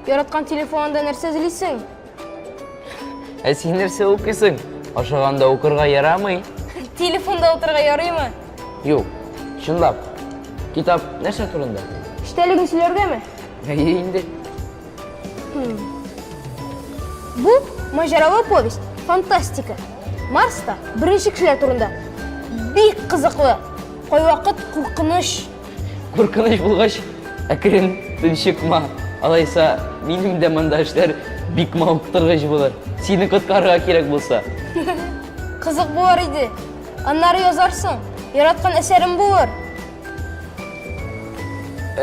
Яраткан телефонында нәрсә эзлисең? Ә син нәрсә укыйсың? Ашаганда укырга ярамый? Телефонда утырырга ярыймы? Юк, чынлап. Китап нәрсә турында? Эчтәлеген сөйләргәме? Әйе инде. Бу маҗаралы повесть, фантастика. Марста беренче кешеләр турында. Бик кызыклы. Кайвакыт куркыныч. Куркыныч булгач, әкрен тынчыкма. Алайса, минем дә монда эшләр бик мавыктыргыч булыр. Сине коткарырга кирәк булса. Кызык булар иде. Аннары язарсың. Яраткан әсәрем булыр.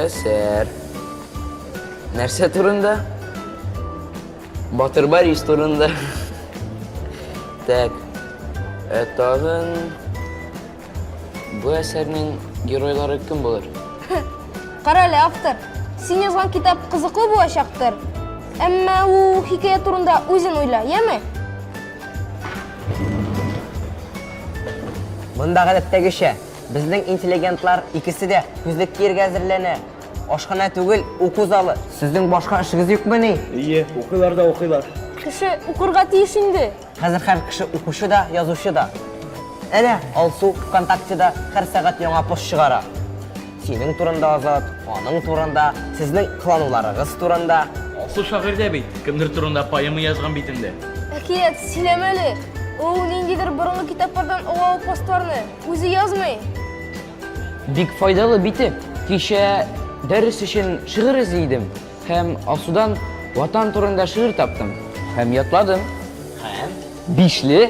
Әсәр. Нәрсә турында? Батыр Борис турында. Так. Ә тагын бу әсәрнең геройлары кем булыр? Кара әле, автор. Син язган китап кызыклы булачактыр. Әмма ул хикәя турында үзен уйла, яме? Монда гадәттәгечә, Безнең интеллигентлар икесе дә күзлек киергә әзерләнә. Ашханә түгел, уку залы. Сезнең башка эшегез юкмыни? Ие, укыйлар да укыйлар. Кеше укырга тиеш инде! Хәзер һәр кеше укучы да, язучы да. Әнә, Алсу ВКонтактеда һәр сәгать яңа пост чыгара. Синең турында, Азат, аның турында, сезнең кылануларыгыз турында. Алсу шагыйрь дә бит, кемдер турында поэма язган бит инде. Әкият, сөйләмә әле! Ул ниндидер борынгы китаплардан олау постларны. Үзе язмый. Бик файдалы бите. Кичә дәрес өчен шигырь эзли идем һәм Алсудан Ватан турында шигырь таптым һәм ятладым. Һәм бишле